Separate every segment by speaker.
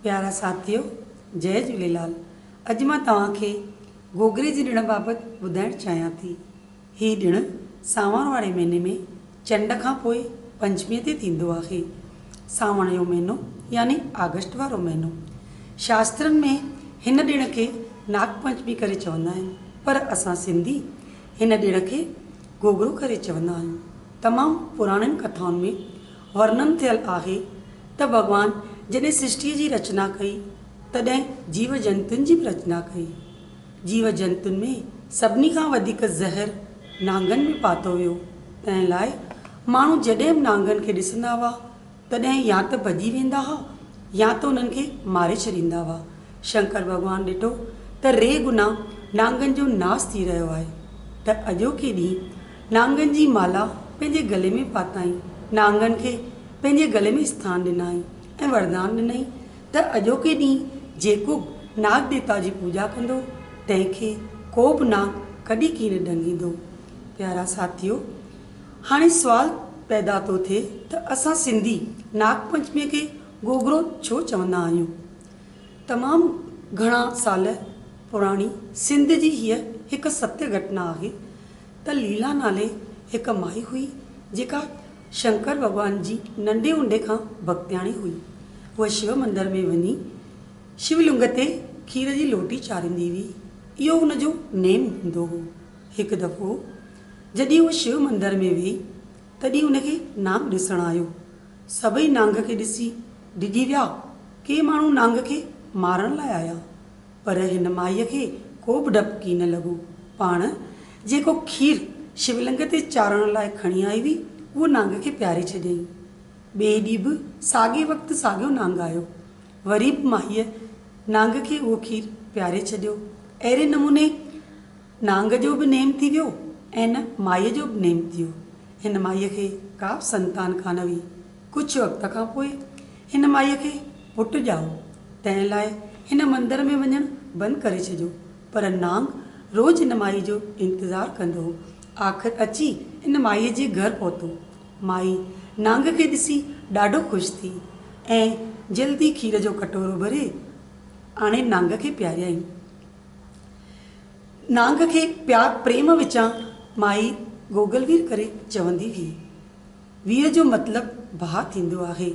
Speaker 1: پيارا ساٿيو جئي جهوليلال اڄ مان توهان کي گوگري جي ڏڻ بابت ٻڌائڻ چاهيان ٿي هي ڏڻ سانوڻ واري مهيني ۾ چنڊ کان پوء پنچمي تي ٿيندو آهي سانوڻ جو مهينو يعني آگسٽ وارو مهينو شاسترن ۾ هن ڏڻ کي ناگ پنچمي ڪري چوندا آهن پر اسان سنڌي هن ڏڻ کي گوگرو ڪري چوندا آهيون تمام پراڻين ڪٿائن ۾ ورنن ٿيل آهي ته ڀڳوان جڏهن سرشٽيء جي رچنا ڪئي، تڏهن جيو جنتن جي به رچنا ڪئي. جيو جنتن ۾ سڀني کان وڌيڪ زهر نانگن ۾ پاتو ويو، تنهن لاء ماڻهو جڏهن به نانگن کي ڏسندا هئا، تڏهن يا ته ڀڄي ويندا هئا يا ته انهن کي ماري ڇڏيندا هئا. شنڪر ڀڳوان ڏٺو ته ري گنا نانگن جو ناس ٿي رهيو آهي ته اڄوڪي ڏينهن نانگن جي مالا پنهنجي گلي ۾ پاتائين، نانگن کي پنهنجي گلي ۾ اسٿان ڏنائين ۽ وردان ڏنائين ته اڄوڪي ڏينهن جيڪو به ناگ ديوتا جي پوڄا ڪندو، تنهن کي ڪو به ناگ ڪڏهن ڪين ڏنگيندو. پيارا ساٿيو! هاڻي سوال پيدا ٿو ٿئي ته اسان سنڌي ناگ پنچميء کي گوگرو ڇو چوندا آهيون؟ تمام گهڻا سال پراڻي سنڌ جي هيء هڪ ستيه گهٽنا آهي، ته ليلا نالي هڪ مائي هئي، جيڪا شنڪر ڀڳوان جي ننڍي هوندي کان ڀڳتياڻي هئي. هوء شو مندر ۾ وڃي شو لنگ تي کير جي لوٽي چاريندي هئي. اهو هن جو نيم هوندو هو. هڪ دفعو جڏهن هوء شو مندر ۾ ويئي، تڏهن هن کي نانگ ڏسڻ آيو. سڀئي نانگ کي ڏسي ڊڄي ويا. ڪي ماڻهو نانگ کي مارڻ لاء آيا، پر هن مائيء کي ڪو به ڊپ ڪين لڳو. پاڻ جيڪو کير شولنگ تي چارڻ لاء کڻي آئي هئي، اهو نانگ کي پياري ڇڏيائين. ٻئي ڏينهن به ساڳئي وقت ساڳيو نانگ آيو. وري به مائيء نانگ کي اهو کير پياري ڇڏيو. اهڙي نموني نانگ جو به نيم ٿي ويو ۽ ان مائيء جو به نيم ٿيو. هن مائيء کي ڪا به سنتان ڪانه هئي. ڪجهه وقت کان پوء هن مائيء کي پٽ ڄائو، تنهن لاء هن مندر ۾ وڃڻ بند ڪري ڇڏيو. پر نانگ روز ان مائيء جو انتظار ڪندو هو. آخر اچي ان مائيء جي گهر پهتو. مائي نانگ کي ڏسي ڏاڍو خوش ٿي ۽ جلدي کير جو ڪٽورو ڀري آڻي نانگ کي پياريائين. نانگ کي پيار پريم وچان مائي گوگل وير ڪري چوندي هئي. ويء جو مطلب ڀاء ٿيندو آهي.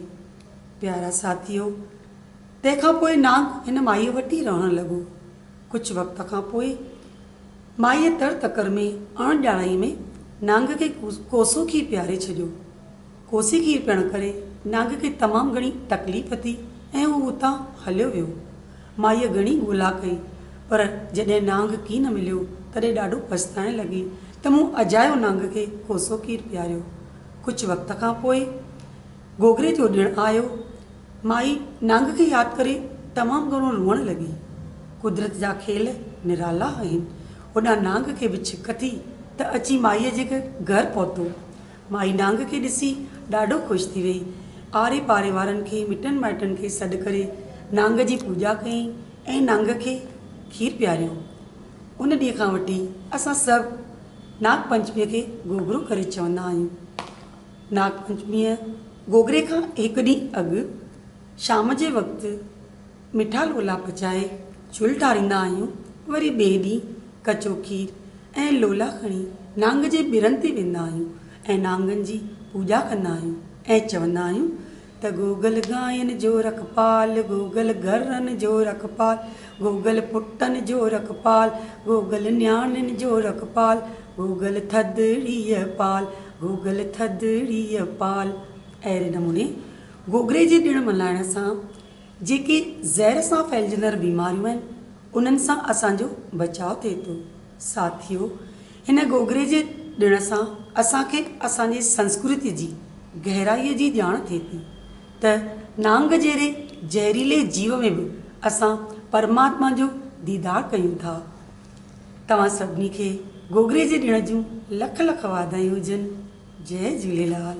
Speaker 1: پيارا ساٿيو! تنهن کان پوء نانگ هن مائيء وٽ ئي رهڻ لڳو. ڪجهه وقت کان پوء مائيء تڙ تڪڙ ۾ اڻ ڄاڻائيء ۾ نانگ کي ڪوسو کير پياري ڇڏيو. ڪوسي کير پيئڻ ڪري نانگ کي تمام گهڻي تڪليف ٿي ۽ هو اتان هليو ويو. مائيء گهڻي ڳولا ڪئي، پر جڏهن نانگ ڪي نه مليو، تڏهن ڏاڍو پڇتائڻ لڳي ته مون اجايو نانگ کي ڪوسو کير پياريو. ڪجهه وقت کان پوء گوگري جو ڏڻ آيو. مائي نانگ کي ياد ڪري تمام گهڻو روئڻ لڳي. قدرت جا کيل نرالا آهن. هوڏانهن نانگ کي به ڇڪ ٿي ته اچي مائيء جي گهر پهتو. مائي نانگ کي ڏسي ڏاڍو خوش ٿي ويئي. آري پاري وارن کي مٽن مائٽن کي سڏ ڪري نانگ جي پوڄا ڪيائين ۽ نانگ کي کير پياريو. ان ڏينهن کان وٺي اسان سڀ ناگ پنچميء کي گوگرو ڪري چوندا آهيون. ناگ پنچميء، گوگري کان هڪ ڏينهن اڳ، شام جي وقت، مٺا لولا پچائي جھل ٽاريندا آھيون، وري ٻئي ڏينھن ڪچو کير ۽ لولا کڻي نانگ جي ٻرن تي ويندا آھيون ۽ نانگن جي پوڄا ڪندا آھيون ۽ چوندا آھيون ته گوگل گاين جو رکپال، گوگل گرن جو رکپال، گوگل پٽن جو رکپال، گوگل نياڻين جو رکپال، گوگل ٿڌڙيء پال، گوگل ٿڌڙيء پال. اھڙي نموني گوگري جي ڏڻ ملھائڻ سان جيڪي زهر سان ڦهلجندڙ بيماريون آهن، انهن سان اسان جو بچاء ٿئي ٿو. ساٿيو! هن گوگڙي جي ڏڻ سان اسان کي اسان جي سنسڪرتي جي گهرائيء جي ڄاڻ ٿئي ٿي ته نانگ جهڙي زهريلي جيو ۾ به اسان پرماتما جو ديدار ڪيون ٿا. توهان سڀني کي گوگڙي جي ڏڻ جون لک لک واڌايون هجن. جئي جهوليلال.